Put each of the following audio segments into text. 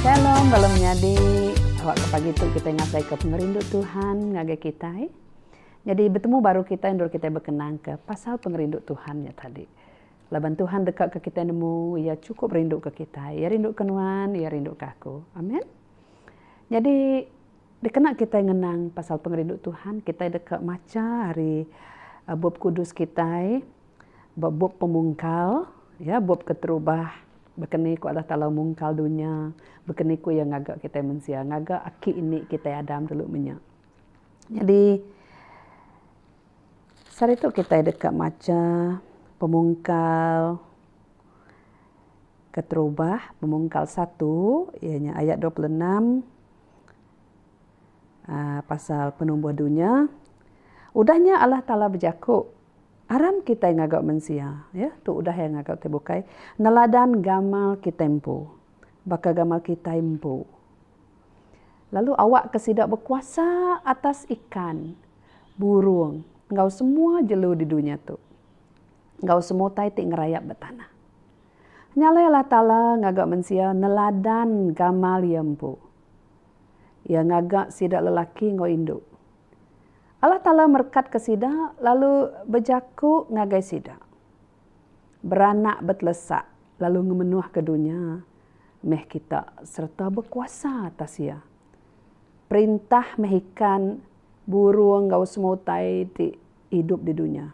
Shalom bala menyadi. Awak ke pagi tu kita ngasai ke pengerindu Tuhan ngagai kita. Jadi bertemu baru kita endur kita berkenang ke pasal pengerindu Tuhan nya tadi. Laban Tuhan deka ke kita nemu, ia cukup rindu ke kita. Ia rindu ke nuan, ia rindu ke aku. Amen. Jadi dikena kita ngenang pasal pengerindu Tuhan, kita deka macha hari eh, bup kudus kita. Ba bup pemungkal, iya bup keterubah baka ni ku Allah Taala mungkal dunya, baka ni ku iya ngaga kitai mensia, ngaga aki indi kitai Adam dulu meh nya. Nyadi saritu kitai deka macha pemungkal keterubah, pemungkal satu iya nya ayat dua puluh enam aaa pasal penumbuh dunya. Udah nya Allah Taala bejaku Aram kitai ngaga mensia, ya, tu udah iya ngaga kitai bukai neladan gamal kitai empu, baka gamal kitai empu. Lalu awakka sida bekuasa atas ikan, burung, enggau semua jelu di dunya tu, enggau semua utai ti ngerayap ba tanah. Nya alai Allah Taala ngaga mensia neladan gamal Iya empu. Iya ngaga sida lelaki enggau indu. Allah Taala merekatka sida lalu bejaku ngagai sida, Beranak betelesak lalu ngemenuhka dunya meh kita sereta bekuasa atas iya. Perintah meh ikan, burung enggau semua utai ti idup di dunya.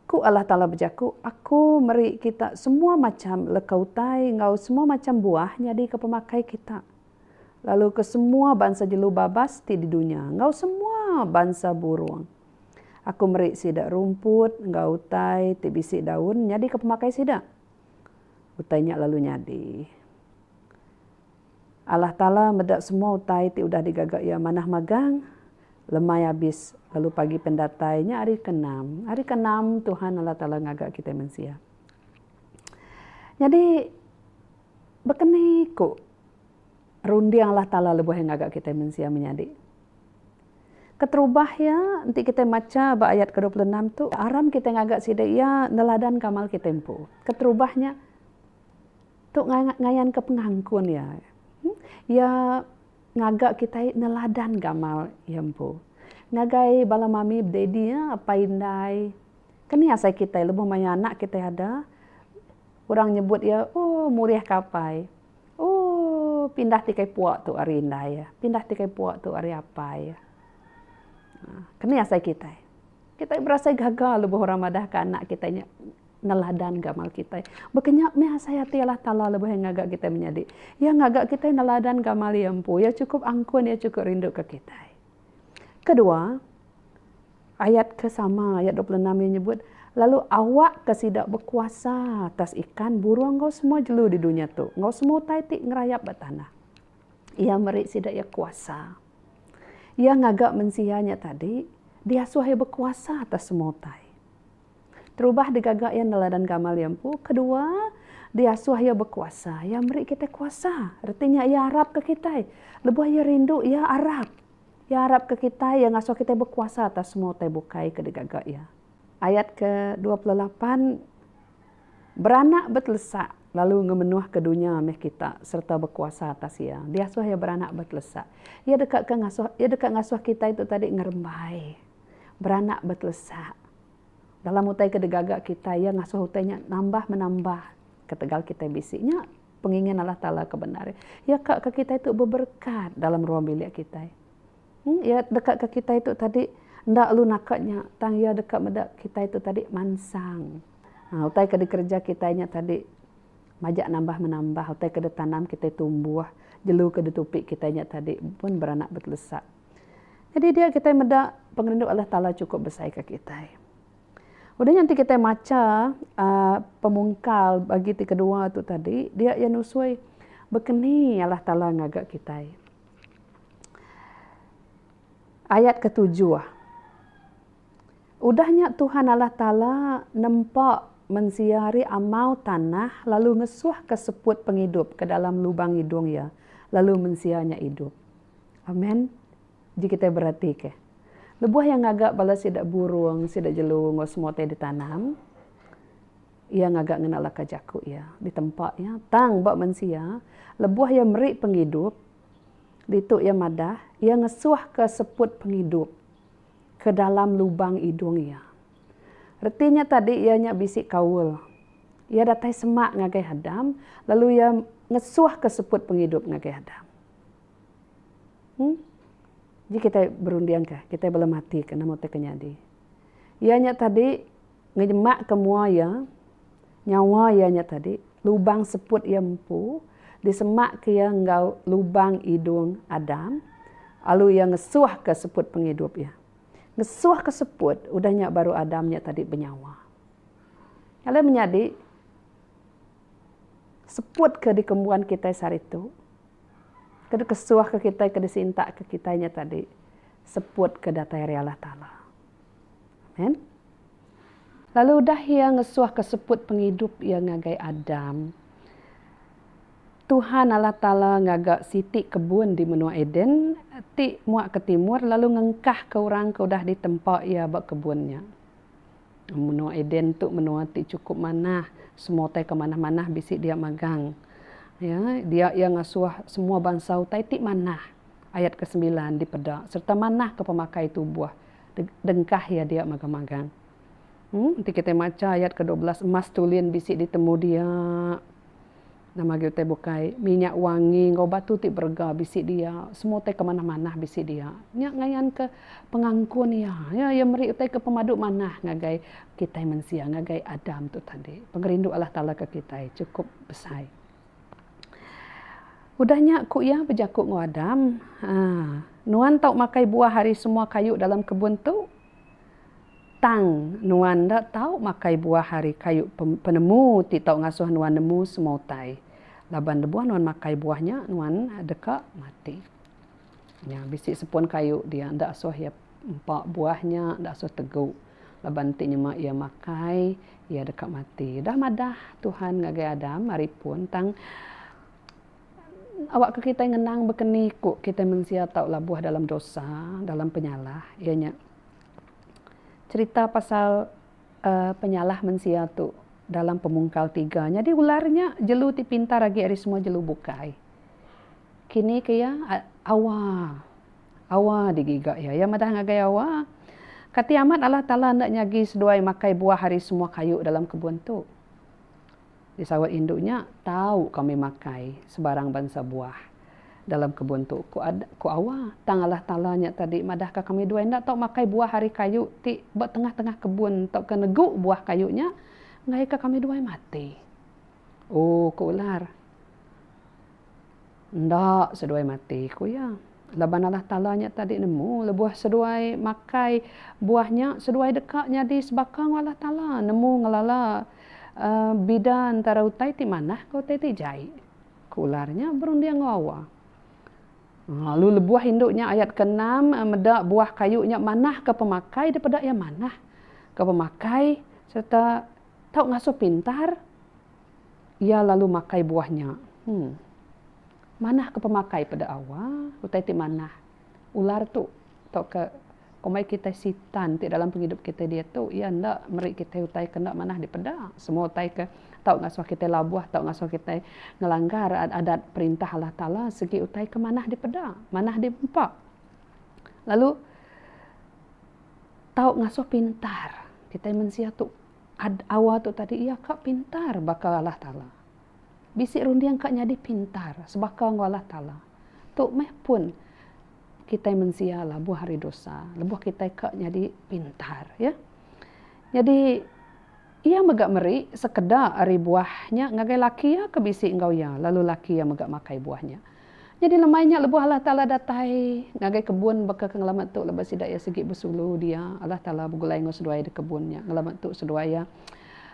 Ku Allah Taala bejaku, Aku meri kita semua macham leka utai enggau semua macham buah nyadika pemakai kita. lalu ke semua bansa jelu babas ti di dunya enggau semua bansa burung. Aku meri sida rumput enggau utai ti bisi daun nyadika pemakai sida. Utai nya lalu nyadi. Allah Taala meda semua utai ti udah digaga Iya manah magang lemai abis lalu pagi pendatai nya hari keenam. Hari keenam Tuhan Allah Taala ngaga kitai mensia. Nyadi baka ni ku Runding Allah Taala lebuh iya ngaga kitai mensia menyadi. Keterubah iya, enti kitai macha ba ayat ke dua puluh enam tu, aram kitai ngaga sida iya neladanka amal kitai empu. Keterubah nya tu ngayanka pengankun iya. Iya ngaga kitai neladanka amal iya empu. Ngagai bala mami daddy, apai indai, ke ni asai kitai lebuh mayuh anak kitai ada. Orang nyebut iya, Ooh, murih ka apai. Ooh, pindah ti kai puak tu ari indai. Pindah ti kai puak tu ari apai. Keni asai kitai. Kitai berasai gaga lebuh orang madah ka anak kitai nya neladan ka amal kitai. Baka nya meh asai ati Allah Taala lebuh iya ngaga kitai menyadi. Iya ngaga kitai neladan ka amal iya empu. Iya chukup angkun, iya chukup rindu ka kitai. Kedua. Ayat ke sama, ayat dua puluh enam, iya nyebut, Lalu awakka sida bekuasa atas ikan, burung enggau semua jelu di dunya tu, enggau semua utai ti ngerayap ba tanah. Iya meri sida iya kuasa. Iya ngaga mensia nya tadi diasuh iya bekuasa atas semua utai. Terubah digaga iya neladan gamal iya empu, kedua, diasuh iya bekuasa. Iya meri kitai kuasa. Reti nya iya arapka kitai. Lebuh iya rindu, iya arap. Iya arapka kitai, iya ngasuh kitai bekuasa atas semua utai bukai ke digaga Iya. Ayat ke dua puluh lapan, Beranak betelesak lalu ngemenuhka dunya meh kita sereta bekuasa atas iya. Diasuh iya beranak betelesak. Iya deka ke ngasuh, iya deka ngasuh kitai tu tadi ngerembai, beranak betelesak. Dalam utai ke digaga kitai, iya ngasuh utai nya nambah menambah ketegal kitai bisi. Nya. Pengingin Allah Taala ke bendar. Iya ka ke kitai tu beberekat dalam ruang bilik kitai. Iya deka ke kitai tu tadi enda lalu naka nya tang iya deka meda kitai tu tadi mansang. Haa utai ke dikereja kitai nya tadi majak nambah menambah utai ke ditanam kitai tumbuh jelu ke ditupi kitai nya tadi pun beranak betelesa. Jadi dia kitai meda pengerindu Allah Taala chukup besai ke kitai. Udah nya enti kitai macha uhh pemungkal bagi ti kedua tu tadi dia iya nusui bekeni Allah Taala ngaga kitai. Ayat ketujuh udah nya Tuhan Allah Taala nempa mensia ri amau tanah lalu ngesuhka seput pengidup ke dalam lubang idung iya lalu mensia nya idup. Amen. Ji kitai beratika, lebuh iya ngaga bala sida burung, sida jelu enggau semua ti ditanam, iya ngaga ngena laka jaku iya ditempa iya. Tang ba mensia, lebuh iya meri pengidup, ditu iya madah, iya ngesuhka seput pengidup ke dalam lubang idung iya. Reti nya tadi iya nya bisi kaul. Iya datai semak ngagai Adam, lalu iya ngesuhka seput pengidup ngagai Adam. Em. Ji kitai berundingka, kitai bala mati ke nama ti ke nyadi. Iya nya tadi ngenyemaka mua iya, nyawa iya nya tadi, lubang seput iya empu disemaka iya enggau lubang idung Adam lalu iya ngesuhka seput pengidup iya. Ngesuhka seput, udah nya baru Adam nya tadi benyawa. Alai menyadi, seput ke dikembuan kitai sehari tu. Ke dikesuhka kitai ke disintakka kitai nya tadi seputka datai ari Allah Taala. Amen. Lalu udah iya ngesuhka seput pengidup iya ngagai Adam, Tuhan Allah Taala ngaga siti kebun di menua Eden ti mua ke timur lalu ngengkahka orang ke udah ditempa iya ba kebun nya. Menua Eden tu menua ti chukup manah. Semua utai ke manah-manah bisi dia magang. Ya, dia iya ngasuh semua bansa utai ti manah. Ayat ke sembilan dipeda sereta manahka pemakai tubuh dengkah iya dia mega magang. Enti kitai macha ayat ke dua belas emas tulin bisi ditemu dia. Nama agi utai bukai. Minyak wangi enggau batu ti berega bisi dia. Semua utai ke manah-manah bisi dia. Nya ngayanka pengangkun iya. Ya, iya meri utai ke pemadu manah ngagai kitai mensia, ngagai Adam tu tadi. Pengerindu Allah Taala ke kitai chukup besai. Udah nya ku iya bejaku enggau Adam, Nuan tau makai buah ari semua kayu dalam kebun tu. Tang, nuan enda tau makai buah ari kayu penemu ti tau ngasuh nuan nemu semua utai. Laban lebuh nuan makai buah nya, nuan deka mati. Nya bisi sepon kayu dia enda asuh iya empa buah nya, enda asuh tegu. Laban enti nyema iya makai, iya deka mati. Udah madah Tuhan ngagai Adam ari pun tang Awakka kitai ngenang bekeni ku kitai mensia tau labuh dalam dosa, dalam penyalah iya nya cherita pasal uhh penyalah mensia tu dalam pemungkal tiga. Nyadi ular nya jelu ti pintar agi ari semua jelu bukai. Kini ke iya awa, awa agi giga iya. Iya madah ngagai awa, Kati amat Allah Taala enda nyagi seduai makai buah ari semua kayu dalam kebun tu. Di saut indu nya, tau kami makai sebarang bansa buah dalam kebun tu, ku Ad, ku Awa. Tang alah tala nya tadi madahka kami dua enda tau makai buah ari kayu ti ba tengah-tengah kebun tauka negu buah kayu nya ngaika kami dua mati. Oh, ku Ular. Enda seduai mati, ku iya. Laban Allah Taala nya tadi nemu lebuh seduai makai buah nya, seduai deka nyadi sebaka enggau Allah Taala, nemu ngelala bida entara utai ti manah enggau utai ti jai. Ku ular nya berunding enggau awa. Lalu lebuh indu nya ayat ke enam meda buah kayu nya manah ke pemakai dipeda iya manah ke pemakai sereta tau ngasuh pintar. Iya lalu makai buah nya. Hum. Manah ke pemakai peda awa, utai ti manah. Ular tu tauka komai kitai sitan ti dalam pengidup kitai diatu iya enda meri kitai utai ke enda manah dipeda. Semua utai ke tau ngasuh kitai labuh, tau ngasuh kitai ngelanggar adat perintah Allah Taala segi utai ke manah dipeda, manah diempa. Lalu tau ngasuh pintar. Kitai mensia tu Ad awa tu tadi iya ka pintar baka Allah Taala. Bisi runding ka nyadi pintar sebaka enggau Allah Taala. Tu meh pun kitai mensia labuh hari dosa, lebuh kitai ka nyadi pintar ya. Nyadi iya mega meri sekeda ari buah nya ngagai laki iya ke bisi enggau iya lalu laki iya mega makai buah nya. Nyadi lemai nya lebuh Allah Taala datai ngagai kebun baka ke ngelama tu laban sida iya sigi besulu dia Allah Taala begulai enggau seduai di kebun nya ngelama tu seduai iya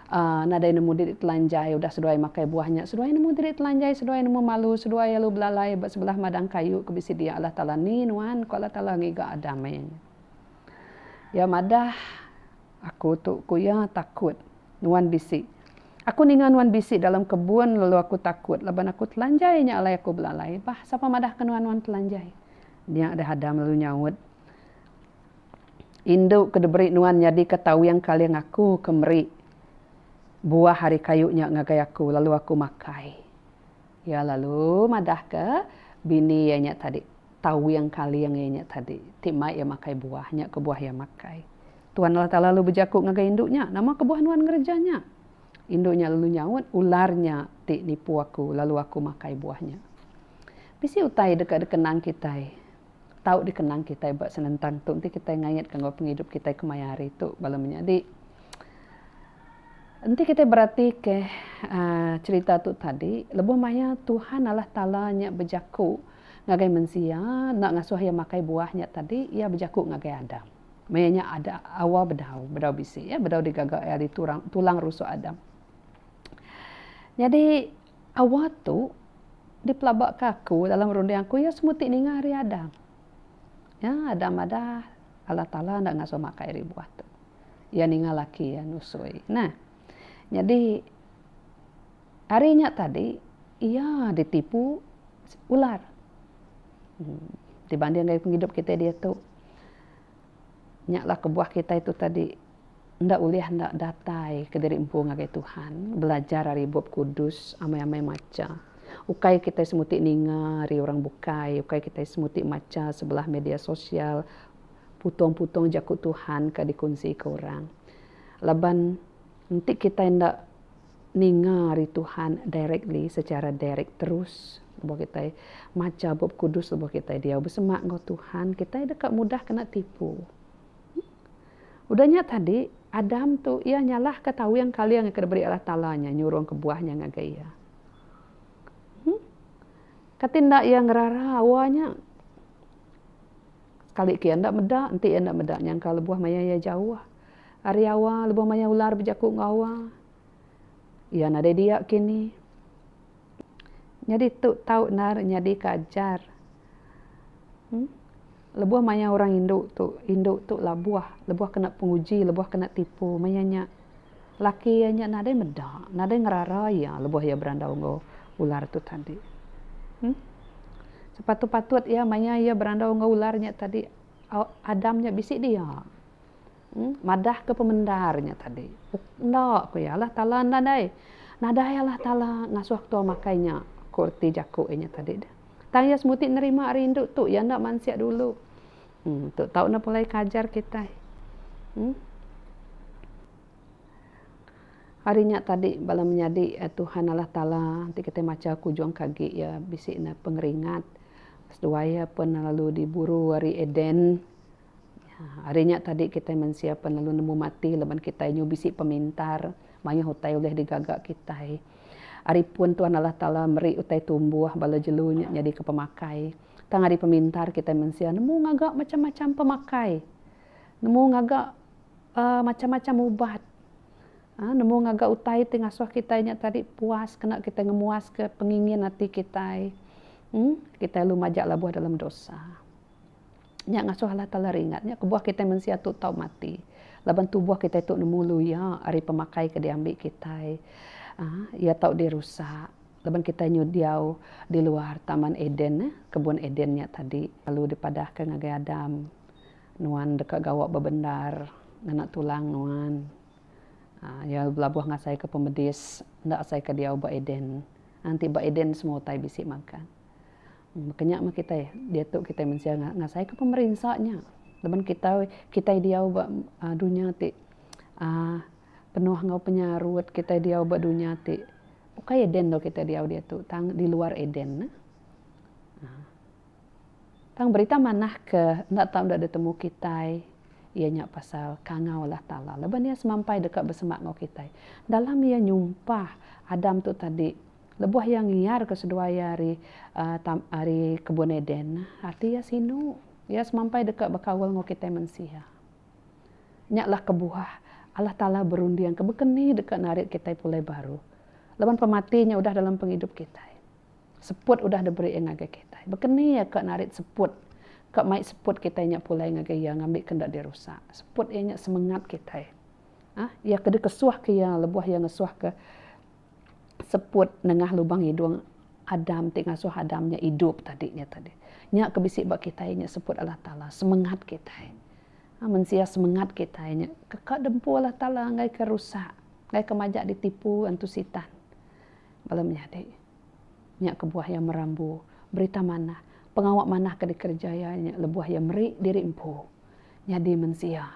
uhh nadai nemu diri telanjai udah seduai makai buah nya seduai nemu diri telanjai seduai nemu malu seduai alu belalai ba sebelah madang kayu ke bisi dia Allah Taala ni nuan ku Allah Taala ngiga Adam ai. Iya madah Aku tu ku iya takut. Nuan bisi. Aku ninga nuan bisi dalam kebun lalu aku takut laban aku telanjai nya alai aku belalai bah sapa madah ke nuan nuan telanjai. Nya deh Adam lalu nyaut. Indu ke diberi nuan nyadi ke tawing kaling aku ke meri buah ari kayu nya ngagai aku lalu aku makai. Iya lalu madahka, Bini iya nya tadi, tawing kaling iya nya tadi, ti mai iya makai buah, nya kebuah iya makai. Tuhan Allah Taala lalu bejaku ngagai indu nya, Nama kebuah nuan ngereja nya? Indu nya lalu nyaut, Ular nya ti nipu aku, lalu aku makai buah nya. Bisi utai deka dikenang kitai tau dikenang kitai ba senentang tu enti kitai ngaitka enggau pengidup kitai kemaya hari tu bala menyadi. Enti kitai beratika aaa cherita tu tadi, lebuh maya Tuhan Allah Taala nya bejaku ngagai mensia enda ngasuh iya makai buah nya tadi, iya bejaku ngagai Adam. Maya nya ada Hawa bedau, bedau bisi iya, bedau digaga ari tulang rusuk Adam. Nyadi Awa tu dipelaba ke aku dalam runding aku iya semua ti ninga ari Adam. Nya Adam madah Allah Taala enda ngasuh makai ari buah tu. Iya ninga laki iya nusui. Nah. Nyadi ari nya tadi iya ditipu ular. Dibanding ari pengidup kitai diatu. Nya lah kebuah kitai tu tadi enda ulih enda datai kediri empu ngagai Tuhan, belajar ari Bup Kudus, amai-amai macha. Ukai kitai semuti ninga ari orang bukai, ukai kitai semuti macha sebelah media sosial putung-putung jaku Tuhan ka dikunsika orang. Laban enti kitai enda Ninga ari Tuhan directly, secara direct terus lebuh kitai macha Bup Kudus lebuh kitai diau besemak enggau Tuhan, kitai deka mudah kena tipu. Udah nya tadi, Adam tu iya nyalahka tawing kaling ke diberi Allah Taala nya nyurung kebuah nya ngagai iya. Huh. Kati enda iya ngerara awa nya? Sekali ke iya enda meda, enti iya enda meda nyangka lebuh maya iya jauh. Ari awa lebuh maya ular bejaku enggau awa, iya nadai dia kini. Nyadi tu tau endar nyadika ajar. Em. Lebuh maya orang indu tu, indu tu labuh, lebuh kena penguji, lebuh kena tipu. Maya nya, laki iya nya nadai meda, nadai ngerara iya lebuh iya berandau enggau ular tu tadi. Em. Sepatut-patut iya maya iya berandau enggau ular nya tadi, Adam nya bisi dia. Madah ke pemendar nya tadi. Enda, ku iya. Allah Taala nadai. Nadai Allah Taala ngasuh tua makai nya, ku reti jaku iya nya tadi. Tang iya semuti nerima rindu tu. Iya enda mansik dulu. Em, tu tau enda pulai ke ajar kitai. Em. Hari nya tadi bala menyadi Tuhan Allah Taala ti kitai macha kujung ke agi iya bisi ne pengeringat. Seduai iya pun lalu diburu ari Eden. Ari nya tadi kitai mensia pan lalu nemu mati laban kitai nyu bisi pemintar mayuh utai ulih digaga kitai. Ari pun Tuhan Allah Taala meri utai tumbuh bala jelu nya nyadika pemakai. Tang ari pemintar kitai mensia nemu ngaga macam-macam pemakai. Nemu ngaga uhh macam-macam ubat. uhh nemu ngaga utai ti ngasuh kitai nya tadi puas kena kitai ngemuaska pengingin ati kitai. uhh kitai lalu majak labuh dalam dosa. Nya ngasuh Allah Taala ringat nya kebuah kitai mensia tu tau mati laban tubuh kitai tu nemu luya ari pemakai ke diambi kitai uhh iya tau dirusak laban kitai nyudiau diluar taman eden neh kebun eden nya tadi lalu dipadahka ngagai Adam nuan deka gawa bebendar ngena tulang nuan uhh iya belabuh ngasaika pemedis enda asaika diau ba eden nganti ba eden semua utai bisi magang. Kenya mah kitai diatu kitai mensia ngasai ka pemerinsa nya laban kitai kitai diau ba dunya ti aaa penuh enggau penyarut kitai diau ba dunya ti ukai eden lalu kitai diau diatu tang di luar eden ne aaa tang berita manah ke enda tau enda ditemu kitai iya nya pasal kangau Allah taala laban iya semampai deka besemak enggau kitai dalam iya nyumpah Adam tu tadi. Lebuh iya ngiarka seduai iya ari tam ari kebun Eden, ati iya sinu. Iya semampai deka bekaul enggau kitai mensia. Nya lah kebuah Allah Taala berundingka baka ni deka narit kitai pulai baru laban pemati nya udah dalam pengidup kitai. Seput udah diberi iya ngagai kitai. Baka ni iya ka narit seput, ka mai seput kitai nya pulai ngagai iya ngambika enda dirusak. Seput iya nya semengat kitai. Uhh iya ke dikesuhka iya lebuh iya ngesuhka seput nengah lubang hidung Adam ti ngasuh Adam nya idup tadi nya tadi. Nya ke bisi ba kitai nya seput Allah Taala semengat kitai. Nah mensia semengat kitai nya ke ka dempu Allah Taala enggai ke rusak, enggai ke majak ditipu antu sitan. Bala menyadi nya kebuah iya merambu berita manah, pengawa manah ke dikereja iya nya lebuh iya meri diri empu nyadi mensia.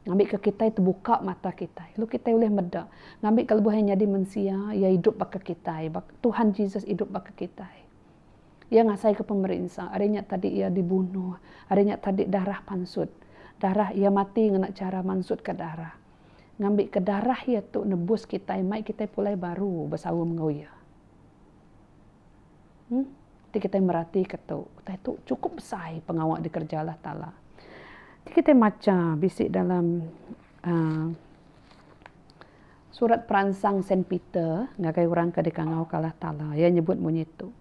Ngambika kitai tebuka mata kitai lalu kitai ulih meda ngambika lebuh iya nyadi mensia iya idup baka kitai baka Tuhan Jesus idup baka kitai. Iya ngasaika pemerinsa ari nya tadi iya dibunuh ari nya tadi darah pansut darah iya mati ngena chara mansutka darah ngambika darah iya tu nebus kitai mai kitai pulai baru besaum enggau iya. Em ti kitai meratika tu, utai tu chukup besai pengawa dikereja Allah Taala. Ti kitai macha bisi dalam aaa surat peransang Saint Peter ngagai orang ke dikangauka Allah Taala, iya nyebut munyi tu.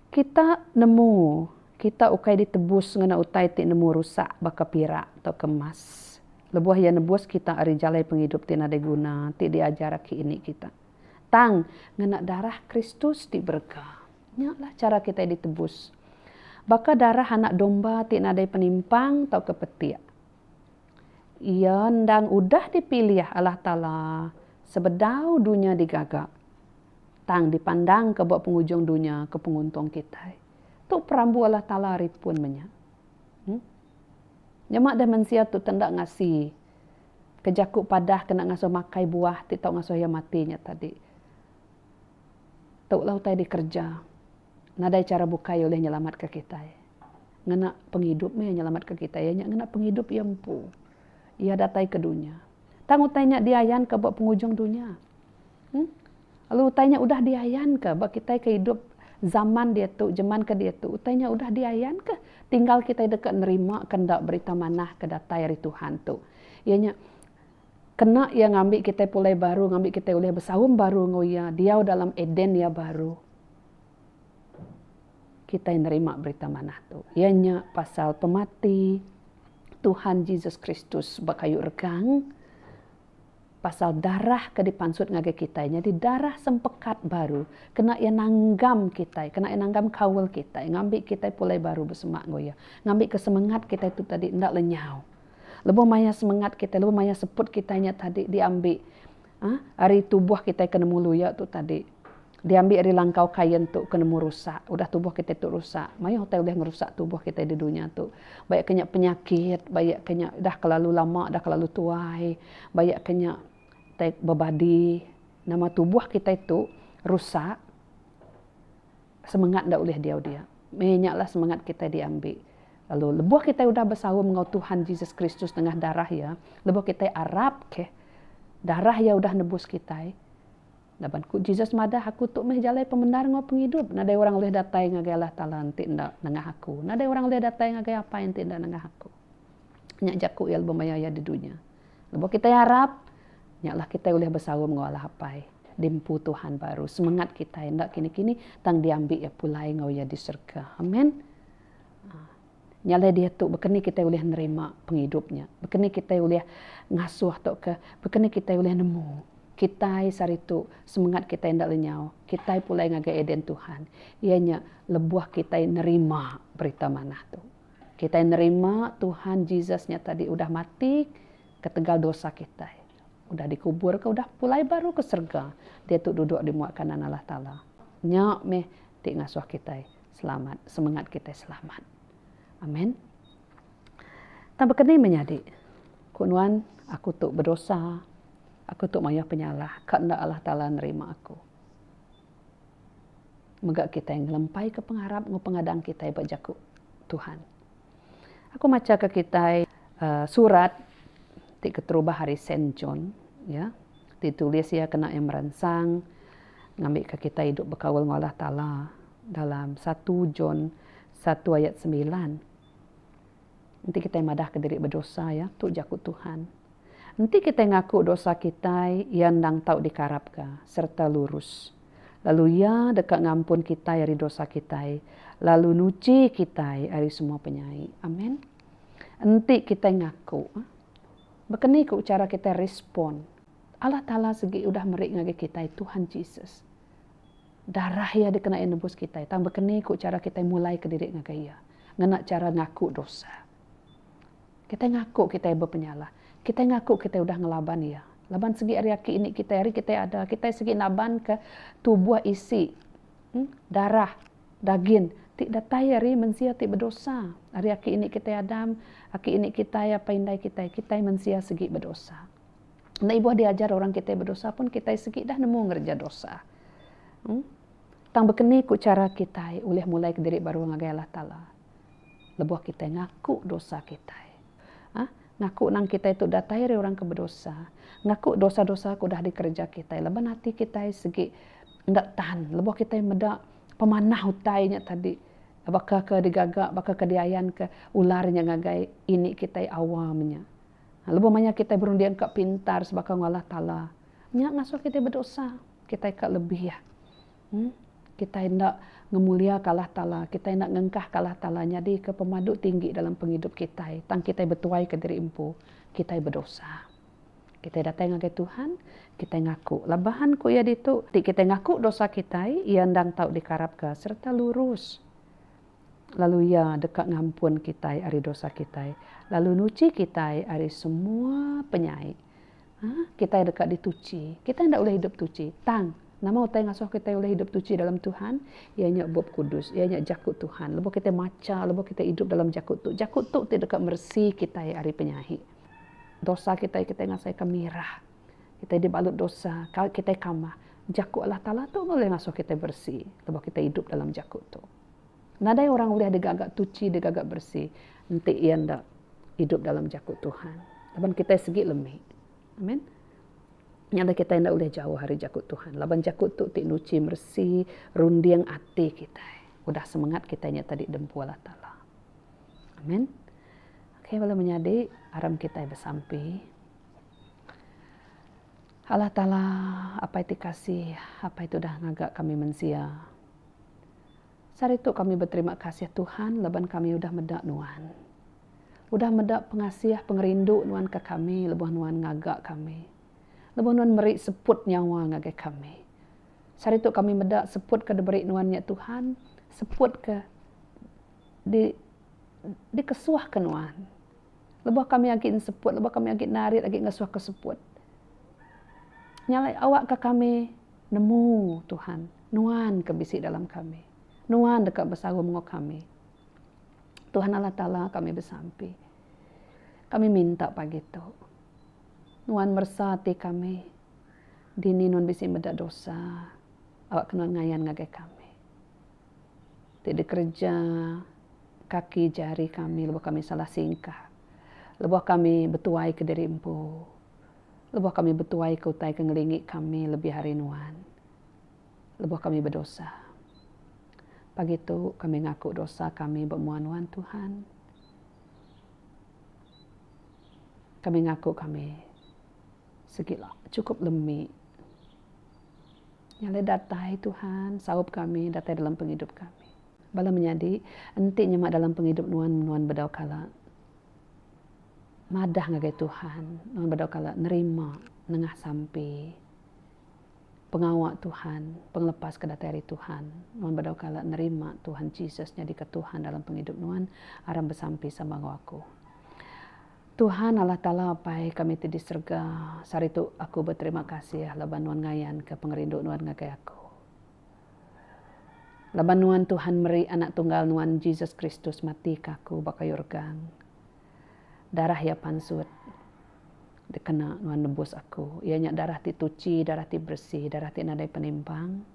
Kita nemu kita ukai ditebus ngena utai ti nemu rusak baka pirak tauka emas. Lebuh Iya nebus kita ari jalai pengidup ti nadai guna ti diajar aki ini kita. Tang, ngena darah Kristus ti berega. Nyalah chara kitai ditebus. Baka darah anak domba ti nadai penimpang tauka petik. Iya endang udah dipilih Allah Taala sebedau dunya digaga. Tang dipandangka ba pengujung dunya ke penguntung kitai. Tu perambu Allah Taala ari pun menya. Em. Nyema deh mensia tu tenda ngasi ke jaku padah kena ngasuh makai buah ti tau ngasuh iya mati nya tadi. Tu lah utai dikereja. Nadai chara bukai ulih nyelamatka kitai. Ngena pengidup meh iya nyelamatka kitai. Iya nya ngena pengidup iya empu. Iya datai ke dunya. Tang utai nya diayanka ba pengujung dunya. Em lalu utai nya udah diayanka ba kitai ke idup zaman diatu, jeman ke diatu. Utai nya udah diayanka tinggal kitai deka nerima ke enda berita manah ke datai ari Tuhan tu. Iya nya kena iya ngambi kitai pulai baru, ngambi kitai ulih besaum baru enggau iya, diau dalam Eden iya baru. kitai nerima berita manah tu iya nya pasal pemati Tuhan Jesus Kristus ba kayu regang pasal darah ke dipansut ngagai kitai nyadi darah sempekat baru kena iya nanggam kitai kena iya nanggam kaul kitai ngambi kitai pulai baru besemak enggau iya ngambi ke semengat kitai tu tadi enda lenyau lebuh maya semengat kitai lebuh maya seput kitai nya tadi diambi ari tubuh kitai ke nemu luya tu tadi diambi ari langkau kain tu ke nemu rusak udah tubuh kitai tu rusak mayuh utai ulih ngerusak tubuh kitai di dunya tu baya ke nya penyakit baya ke nya dah kelalu lama dah kelalu tuai baya ke nya tai bebadi nama tubuh kitai tu rusak. Semengat enda ulih diau dia. Meh nya lah semengat kitai diambi. Lalu lebuh kitai udah besaum enggau Tuhan Jesus Kristus nengah darah Iya, lebuh kitai arap keh darah Iya udah nebus kitai. Laban ku Jesus madah, Aku tu meh jalai pemendar enggau pengidup. Nadai orang ulih datai ngagai Allah Taala enti enda nengah aku. Nadai orang ulih datai ngagai Apai enti enda nengah aku. Nya jaku Iya lebuh maya Iya di dunya. Lebuh kitai arap, nya lah kitai ulih besaum enggau Allah Apai di empu Tuhan baru. Semengat kitai enda kini-kini tang diambi iya pulai enggau iya di serega. Amen. Nya alai diatu baka ni kitai ulih nerima pengidup nya. Baka ni kitai ulih ngasuh tauka baka ni kitai ulih nemu kitai sehari tu semengat kitai enda lenyau, kitai pulai ngagai eden Tuhan iya nya lebuh kitai nerima berita manah tu. Kitai nerima Tuhan Jesus nya tadi udah mati ketegal dosa kitai, udah dikuburka, udah pulai baru ke serega, diatu duduk di mua kanan Allah Taala. Nya meh ti ngasuh kitai selamat, semengat kitai selamat. Amen. Tang baka ni menyadi? Ku nuan, aku tu bedosa, aku tu mayuh penyalah, ka enda Allah Taala nerima aku. Mega kitai ngelempaika pengarap enggau pengadang kitai ba Jaku Tuhan. Aku machaka kitai surat ti keterubah ari Saint John, iya, ti ditulis iya kena iya meransang ngambika kitai idup bekaul enggau Allah Taala dalam satu John satu ayat sembilan. Enti kitai madahka diri bedosa, iya tu jaku Tuhan. Enti kitai ngaku dosa kitai, iya endang tau dikarapka sereta lurus, lalu iya deka ngampun kitai ari dosa kitai lalu nuchi kitai ari semua penyai. Amen. Enti kitai ngaku, baka ni ku chara kitai respon? Allah Taala sigi udah meri ngagai kitai Tuhan Jesus. Darah Iya dikena Iya nebus kitai, tang bekeni ku chara kitai mulaika diri ngagai Iya ngena chara ngaku dosa. Kitai ngaku kitai bepenyalah. Kitai ngaku kitai udah ngelaban Iya. Laban sigi ari aki ini kitai, ari kitai ada, kitai sigi nabanka tubuh isi, darah, dagin, ti datai ari mensia ti bedosa. Ari aki ini kitai Adam, aki ini kitai apai indai kitai, kitai mensia sigi bedosa. Enda ibuh diajar orang kitai bedosa pun kitai sigi dah nemu ngereja dosa. Em. Tang bekeni ku chara kitai ulih mulai ke diri baru ngagai Allah Taala? Lebuh kitai ngaku dosa kitai. Hah. Ngaku nang kitai tu datai ari orang ke bedosa. Ngaku dosa-dosa ke udah dikereja kitai laban ati kitai sigi enda tan lebuh kitai meda pemanah utai nya tadi baka ke digaga baka ke diayanka ular nya ngagai ini kitai awam nya. Lebuh maya kitai berunding ka pintar sebaka enggau Allah Taala, nya ngasuh kitai bedosa. Kitai ka lebih iya. Em. Kitai enda ngemuliaka Allah Taala, kitai enda ngengkahka Allah Taala nyadika pemadu tinggi dalam pengidup kitai, tang kitai betuaika diri empu kitai bedosa. Kitai datai ngagai Tuhan, kitai ngaku. Laban ku iya ditu, ti kitai ngaku dosa kitai, iya endang tau dikarapka sereta lurus. lalu Iya deka ngampun kitai ari dosa kitai lalu nuchi kitai ari semua penyai. Ha, kitai deka dituchi. Kitai enda ulih idup tuchi. Tang, nama utai ngasuh kitai ulih idup tuchi dalam Tuhan? Iya nya Bup Kudus, iya nya Jaku Tuhan. Lebuh kitai macha, lebuh kitai idup dalam Jaku tu, Jaku tu ti deka meresi kitai ari penyai. Dosa kitai, kitai ngasaika mirah. Kitai dibalut dosa, kitai kamah. Jaku Allah Taala tu ulih ngasuh kitai beresi lebuh kitai idup dalam Jaku tu. Nadai orang ulih deka ga tuchi deka ga beresi enti iya enda idup dalam jaku Tuhan. Laban kitai sigi lemi. Amen. Nya alai kitai enda ulih jauh ari jaku Tuhan. Laban jaku tu ti nuchi meresi runding ati kitai. Udah semengat kitai nya tadi dempu Allah Taala. Amen. Okay bala menyadi aram kitai besampi. Allah Taala apai ti kasih, apai ti udah ngaga kami mensia. Sehari tu kami beterima kasih Tuhan laban kami udah meda Nuan. Udah meda pengasih pengerindu Nuan ke kami lebuh Nuan ngaga kami. Lebuh Nuan meri seput nyawa ngagai kami. Sehari tu kami meda seput ke diberi Nuan nya Tuhan, seput ke di dikesuh ke Nuan. Lebuh kami agi nseput, lebuh kami agi narit agi ngesuh ke seput. Nya alai awak ke kami nemu Tuhan. Nuan ke bisi dalam kami. Nuan deka besaum enggau kami. Tuhan Allah Taala kami besampi. Kami minta pagi tu. Nuan meresa ati kami. Dini nuan bisi meda dosa. Awakka nuan ngayan ngagai kami. Ti dikereja kaki jari kami lebuh kami salah singkah. Lebuh kami betuaika diri empu. Lebuh kami betuaika utai ke ngelingi kami lebih ari nuan. lebuh kami bedosa. Pagi tu kami ngaku dosa kami ba mua nuan Tuhan. Kami ngaku kami sigi chukup lemi. Nyalai datai Tuhan saup kami datai dalam pengidup kami. Bala menyadi enti nyema dalam pengidup nuan, nuan bedau kala madah ngagai Tuhan, nuan bedau kala nerima nengah sampi. pengawa Tuhan, pengelepas ke datai ari Tuhan. Nuan bedau kala nerima Tuhan Jesus nyadika Tuhan dalam pengidup nuan, aram besampi sama enggau aku. Tuhan, Allah Taala Apai kami ti di serega, sehari tu aku beterima kasih laban nuan ngayanka pengerindu nuan ngagai aku. Laban nuan Tuhan meri Anak Tunggal nuan Jesus Kristus matika aku ba kayu regang. Darah iya pansut dikena nuan nebus aku. Iya nya darah ti tuchi, darah ti bersih, darah ti nadai penimpang.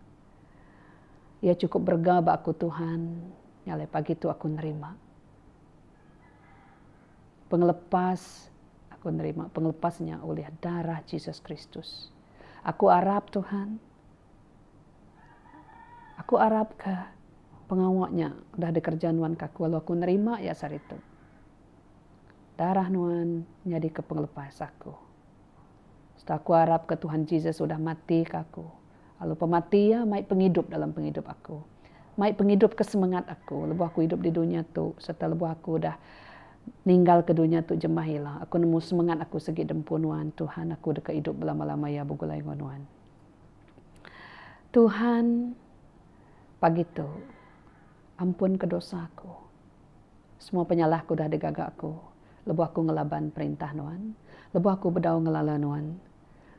Iya chukup berega ba aku Tuhan. Nya alai pagi tu aku nerima pengelepas. Aku nerima pengelepas nya ulih darah Jesus Kristus. Aku arap Tuhan. Aku arap ka pengawa nya udah dikereja nuan ka aku lalu aku nerima iya saritu. Darah nuan nyadi ka pengelepas aku. Serta aku arap ka Tuhan Jesus udah mati ka aku lalu pemati iya mai pengidup dalam pengidup aku. Mai pengidup ka semengat aku lebuh aku idup di dunya tu serta lebuh aku udah ninggal ka dunya tu jemah ila. Aku nemu semengat aku sigi di empu nuan Tuhan. Aku deka idup belama-lama iya begulai enggau nuan. Tuhan, pagi tu, ampunka dosa aku. Semua penyalah aku udah digaga aku lebuh aku ngelaban perintah Nuan, lebuh aku bedau ngelala Nuan,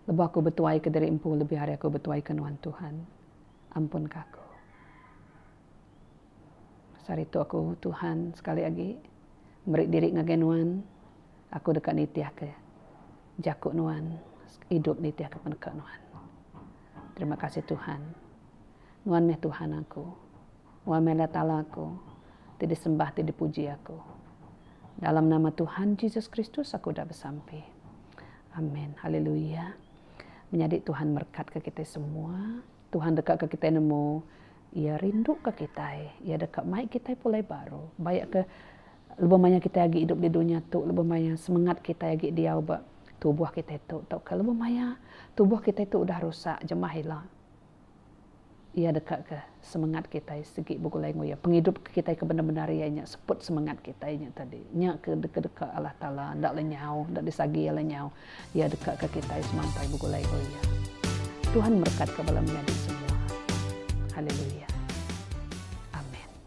lebuh aku betuaika diri empu lebih ari aku betuaika Nuan, Tuhan, ampunka aku. Saritu aku, Tuhan, sekali agi meri diri ngagai Nuan, aku deka nitihka. Jaku nuan idup nitih aku peneka nuan. Terima kasih Tuhan. Nuan meh Tuhan aku. Nuan meh Allah Taala aku ti disembah ti dipuji aku. Dalam nama Tuhan Jesus Kristus aku udah besampi. Amen. Haleluya. Menyadi Tuhan merekatka kitai semua. Tuhan deka ke kitai nemu iya rinduka kitai. Iya deka mai kitai pulai baru. Bayak ke. Lebuh maya kitai agi idup di dunya tu, lebuh maya semengat kitai agi diau ba tubuh kitai tu tauka lebuh maya tubuh kitai tu udah rusak jemah ila, iya deka ke semengat kitai sigi begulai enggau iya. Pengidup ke kitai ke bendar-bendar iya nya seput semengat kitai nya tadi. Nya ke deka Allah Taala enda lenyau, enda disagi iya lenyau. Iya deka ke kitai semampai begulai enggau iya. Tuhan merekatka bala menyadi semua. Haleluya. Amen.